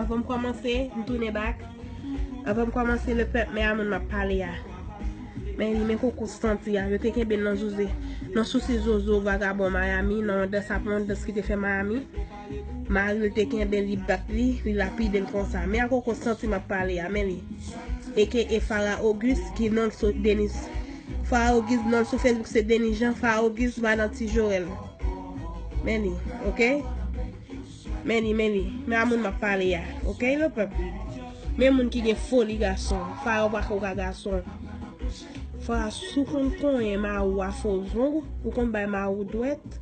Avan m kòmanse, m tounen bak. Avan m kòmanse, le pèp, men a moun m ap pale a. Men li, men koko santi a. Yo te kenbe l nan jouze. Nan sousi zozo, vagabon Miami, nan yon dans ap yon dans ki te fè Miami. Mari l te kenbe l, li bat li, li lapide l konsa. Men a koko santi m ap pale a. Men li. AKA Farah Auguste, ki non l sou Denis. Farah Auguste, non l sou Facebook se Denis Jean. Farah Auguste, madan Ti Joel. Men li. Ok? Men li men li, men a moun map pale a ok le peuple men moun ki gen foli gason fwa yo pako ka gason fwa si w konn konyen mari w a fo zong ou konn bay mari w dwèt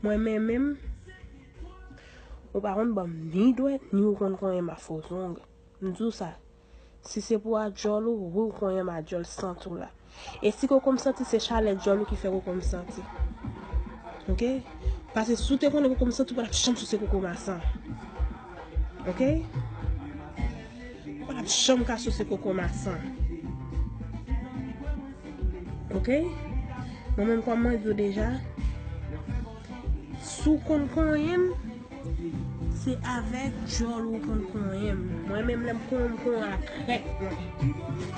mwen men menm ou pa konn banm ni dwèt ni ou konn konyen m a fo zong m di w sa. Si se pou adyòl ou, wi ou konyen m adyòl sant ou la. E si koko m santi se chalè dyòl ou ki fè koko m santi. Ok? Pase si ou te konnen koko m santi ou pa t ap janm souse koko m a san. Ok? Ou pa t ap janm ka souse koko m a san. Ok? Mwen menm kòm mwen di w deja. Si w konn konyen m, se avèk djòl ou konn konyen m. Mwen menm lè m konyen w, m konyen w ak krèk mwen.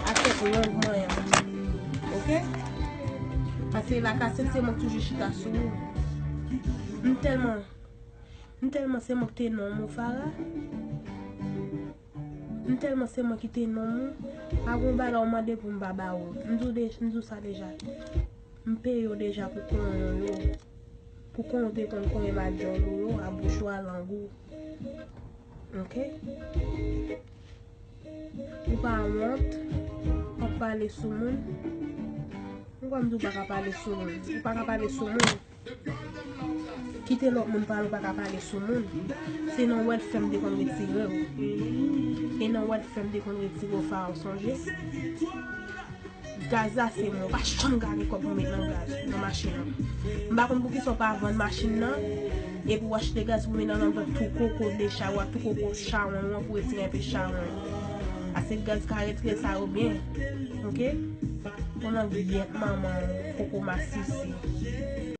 Ak kèk long mwen an. Ok? Pase la kasèt se mwen k toujou chita sou ou. M tèlman, m tèlman se mwen k te nonm ou Farah. M telman se mwen ki te nonm ou, pa gon bagay ou mande pou m pa ba ou. M di w deja, m di w sa deja. M peye w deja pou konyen w yo, pou konyen w te konn konyen m a dyòl ou yo, a bouch ou, a lang ou. Ok? Ou pa wont, wap pale sou moun. Poukwa m di w pa ka pale sou moun? Ou pa ka pale sou moun. Kite lòt moun pale ou paka pale sou moun se nan wèl fèm te konn retire ou e nan wèl fèm te konn retire ou fara ou sonje gaz la se mwen ou pa janm gade kòb mwen met nan gaz nan machin nan m pa konn poukisa ou pa vann machin nan epi ou achte gaz pou met nan nan vant tou koko de chay ou a tou koko chawony ou an pou retire enpe chawony pase gaz ka retire sa yo byen ok ou nan gyèt manman ou koko masisi.